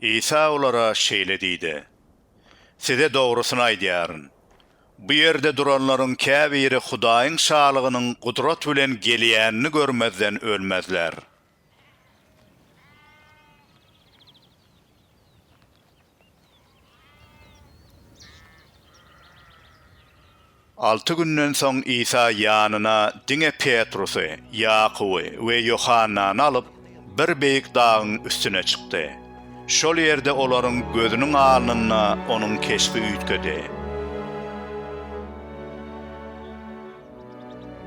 Isa olara şeýle diýdi, Size dogrusyny aýdýaryn, bu ýerde duranlaryň käbiri Hudaýyň Şalygynyň gudrat bilen gelýänini görmezden ölmezler. Alty günden soň Isa ýanyna diňe Petrusy, Ýakuby we Ýohannany alyp, bir beýik dagyň üstüne çykdy. Şol ýerde olaryň gözüniň alnynda onuň keşbi üýtgedi.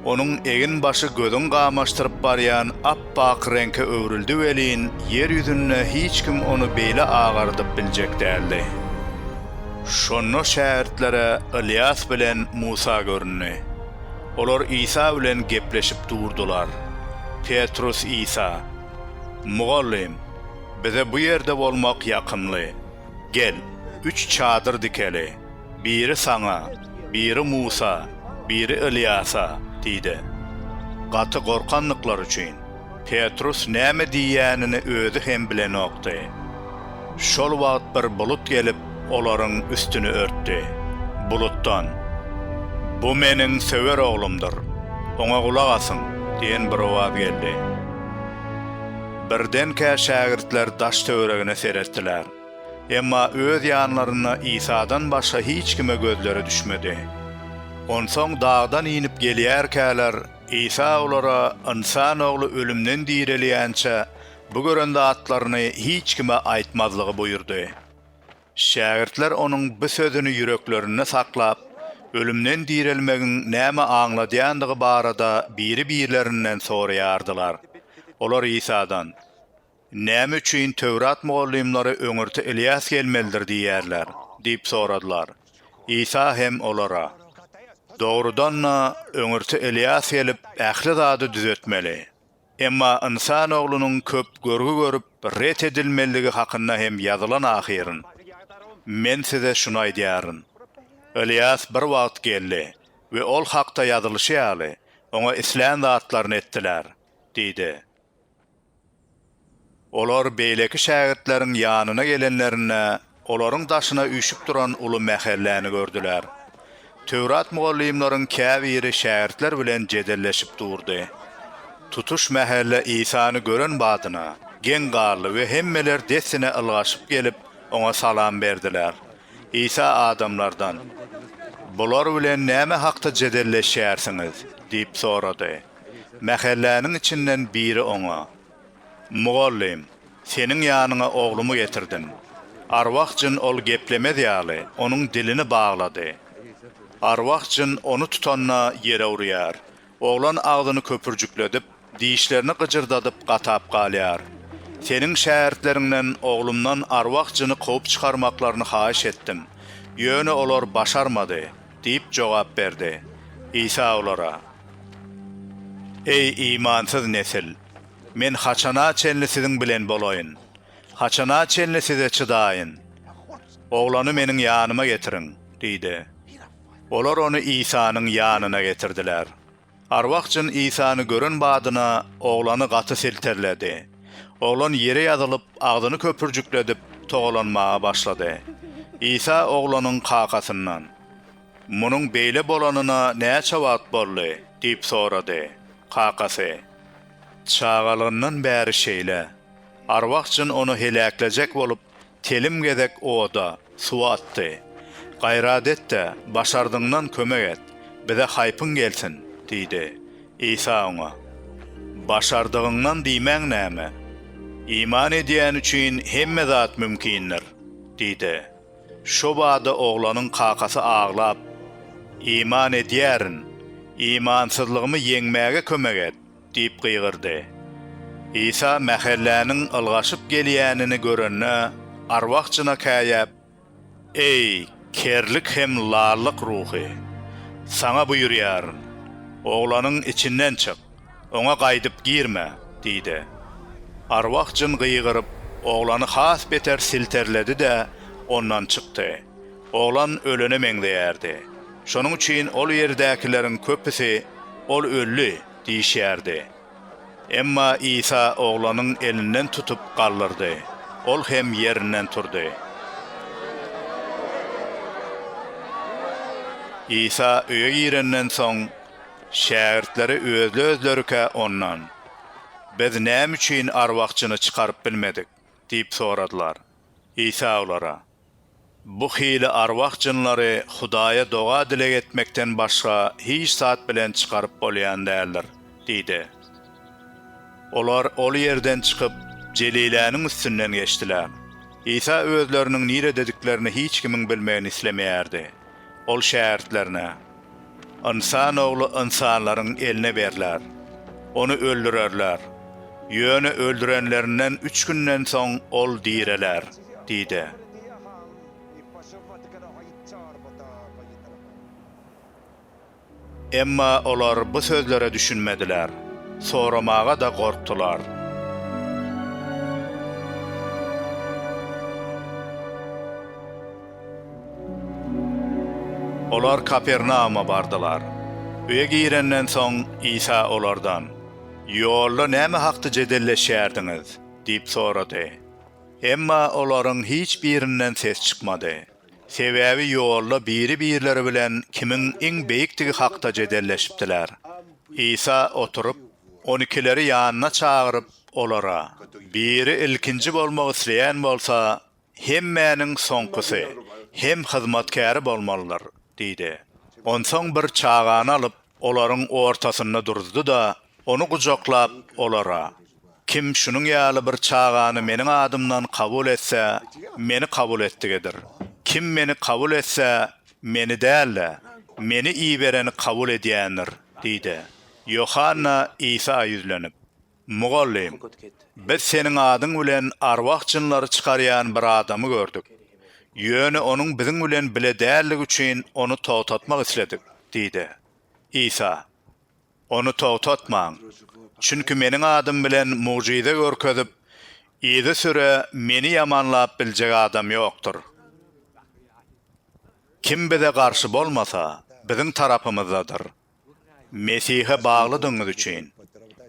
Onuň eginbaşy gözüň gamaşdyryp barýan ap-ak reňke öwrüldi welin, ýer ýüzünde hiç kim ony beýle agardyp biljek däldi. Şonda şägirtlere Ylýas bilen Musa göründi. Olar Isa bilen gepleşip durdular. Petrus Isa, Mugallym, bize bu ýerde bolmak ýakymly. Gel, üç çadyr dikeli. Biri saňa, biri Musa, biri Ylýasa diýdi. Gaty gorkandyklary üçin, Petrus näme diýýänini özi hem bilenokdy. Şol wagt bir bulut gelip, olaryň üstüni örtdi. Bulutdan, Bu Meniň söwer Oglumdyr, Oňa gulak asyň! diýen bir owaz geldi. Birdenkä şägirtler daş-töweregine seretdiler. Emma öz ýanlarynda Isadan başga hiç kime gözleri düşmedi. Onsoň dagdan inip gelýärkäler, Isa olara, Ynsan Ogly ölümden direlýänçä, bu gören zatlaryny hiç kime aýtmazlygy buýurdy. Şägirtler onuň bu sözüni ýüreklerinde saklap, ölümden direlmegiň näme aňladýandygy barada biri-birlerinden soraýardylar. Olar Isadan. Näme üçin Töwrat mugallymlary öňürti Ylýas gelmelidir diýýärler? diýip soradylar. Isa hem olara, Dogrudan-da, öňürti Ylýas gelip, ähli zady düzetmeli. Emma Ynsan Oglunyň köp görgi görüp, ret edilmelidigi hakynda hem ýazylan ahyryn. Men size şuny aýdýaryn. Ylýas bir wagt geldi we ol hakda ýazylyşy ýaly, oňa islän zatlaryny etdiler diýdi. Olar beýleki şägirtleriň ýanyna gelenlerinde, olaryň daşyna üýşüp duran uly mähelläni gördüler. Töwrat mugallymlaryň käbiri şägirtler bilen jedelleşip durdy. Tutuş mähelle Isany gören badyna, geň galdy we hemmeler dessine ylgaşyp gelip, oňa salam berdiler. Isa adamlardan, Bular bilen näme hakda jedelleşýärsiňiz? diýip sorady. Mähelläniň içinden biri oňa, Mugallym, seniň ýanyňa oglumy getirdim. Arwah jyn ol geplemez ýaly, onuň dilini baglady. Arwah jyn ony tutanda ýere urýar. Oglan agzyny köpürjikledip, dişlerini gyjyrdadyp gatap galýar. Seniň şägirtleriňden oglumdan arwah jyny kowup çykarmaklaryny haýyş etdim. Ýöne olar başarmady. Diýip jogap berdi. Isa olara, Eý, imansyz nesil! Men haçana çenli siziň bilen bolaýyn? Haçana çenli size çydaýyn? Oglany meniň ýanyma getiriň! diýdi. Olar ony Isanyň ýanyna getirdiler. Arwah jyn Isany gören badyna oglany gaty silterledi. Oglan ýere ýazylyp, agzyny köpürjikledip, togalanmaga başlady. Isa oglanyň kakasyndan, Munuň beýle bolanyna näçe wagt boldy? diýip sorady. Kakasy, Çagalygyndan bäri şeýle. Arwah jyn ony heläklejek bolup, Telim gezek oda, suwa atdy. Gaýrat et-de, başardygyňdan kömek et, bize haýpyň gelsin! diýdi. Isa oňa. Başardygyňdan diýmäň näme? Iman edýäni üçin hemme zat mümkindir! diýdi. Şo bada oglanyň kakasy aglap, Iman edýärin, imansyzlygymy ýeňmäge kömek et! Diýip gygyrdy. Isa mähelläniň ylgaşyp gelýänini görende, arwah-jyna käýäp, Eý, kerlik hem lallyk ruhy! Saňa buýurýaryn, oglanyň içinden çyk, oňa gaýdyp girme! diýdi. Arwah-jyn gygyryp, oglany has beter silterledi-de, ondan çykdy. Oglan ölene meňzeýärdi. Şonuň üçin ol ýerdäkileriň köpüsi, Ol öldi! Diýişýärdi. Emma Isa oglanyň elinden tutup galdyrdy, ol hem ýerinden turdy. Isa öýe girenden soň, şägirtleri özli-özlerikä Ondan, Biz näme üçin arwahçyny çykaryp bilmedik? diýip soradylar. Isa olara, Bu hili arwah jynlary Hudaýa doga-dileg etmekden başga hiç zat bilen çykaryp bolýan däldir, diýdi. Olar ol ýerden çykyp, Jeliläniň üstünden geçdiler. Isa özleriniň niredediklerini hiç kimiň bilmegini islemeýärdi. Ol şägirtlerine, Ynsan Ogly ynsanlaryň eline berler. Ony öldürerler. Ýöne öldürenlerinden üç günden soň ol direler. diýdi. Emma olar bu sözlere düşünmediler, soramaga-da gorkdular. Olar Kapernauma bardylar. Öýe girenden soň, Isa olardan, Ýolda näme hakda jedelleşýärdiňiz? diýip sorady. Emma olaryň hiç birinden ses çykmady. Sebäbi ýolda biri-birleri bilen kimiň iň beýikdigi hakda jedelleşipdiler. Isa oturyp, on ikileri ýanyna çagyryp, olara, Biri ilkinji bolmak isleýän bolsa, hemmäniň soňkusy hem hyzmatkäri bolmalydyr diýdi. Onsoň bir çagany alyp, olaryň ortasynda duruzdy-da, Ony gujaklap, olara, Kim şunuň ýaly bir çagany Meniň adymdan kabul etse, Meni kabul etdigidir. Kim Meni kabul etse, Meni däl-de, Meni ibereni kabul edýändir diýdi. Ýohanna Isa ýüzlenip, Mugallym, biz Seniň adyň bilen arwah-jynlary çykarýan bir adamy gördük. Ýöne onuň biziň bilen bile däldigi üçin ony togtatmak isledik diýdi. Isa. Ony togtatmaň. Çünki Meniň adym bilen mugjyza görkezip, yzysüre Meni ýamanlap biljek adam ýokdur. Kim Bize garşy bolmasa, Biziň tarapymyzdadyr. Mesihe baglydygyňyz üçin,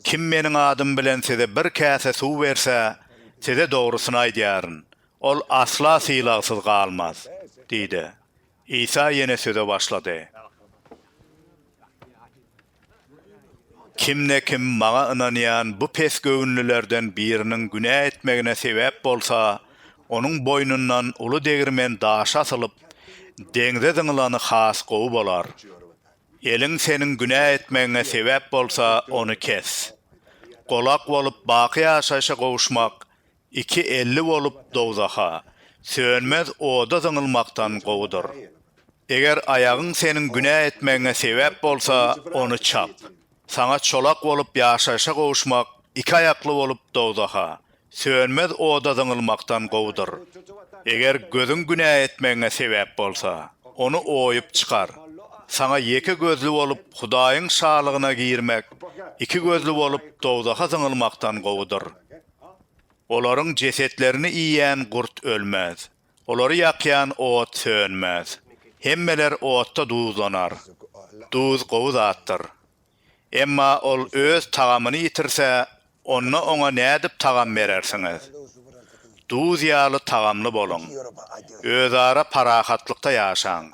kim Meniň adym bilen size bir käse suw berse, size dogrusyny aýdýaryn, ol asla sylagsyz galmaz diýdi. Isa ýene söze başlady. Kimde-kim Maňa ynanýan bu pesgöwünlilerden biriniň günä etmegine sebäp bolsa, onuň boýnundan uly degirmen daşy asylyp, deňze zyňylany has gowy bolar. Eliň seniň günä etmegiňe sebäp bolsa, ony kes. Golak bolup, baky ýaşaýşa gowuşmak Iki elli bolup dowzaha, sönmez oda zyňylmakdan gowudyr. Eger aýagyň seniň günä etmegiňe sebäp bolsa, ony çap. Saňa çolak bolup ýaşaýşa gowuşmak iki aýakly bolup dowzaha, sönmez oda zyňylmakdan gowudyr. Eger gözüň günä etmegiňe sebäp bolsa, ony oýup çykar. Saňa ýeke gözli bolup Hudaýyň şalygyna girmek iki gözli bolup dowzaha zyňylmakdan gowudyr. Olaryň jesetlerini iýen gurt ölmez, olary ýakýan ot sönmez. Hemmeler otda duzlanar. Duz gowy zatdyr. Emma ol öz tagamyny ýitirse, onda oňa nädip tagam berersiňiz? Duz ýaly tagamly boluň. Özara parahatlykda ýaşaň.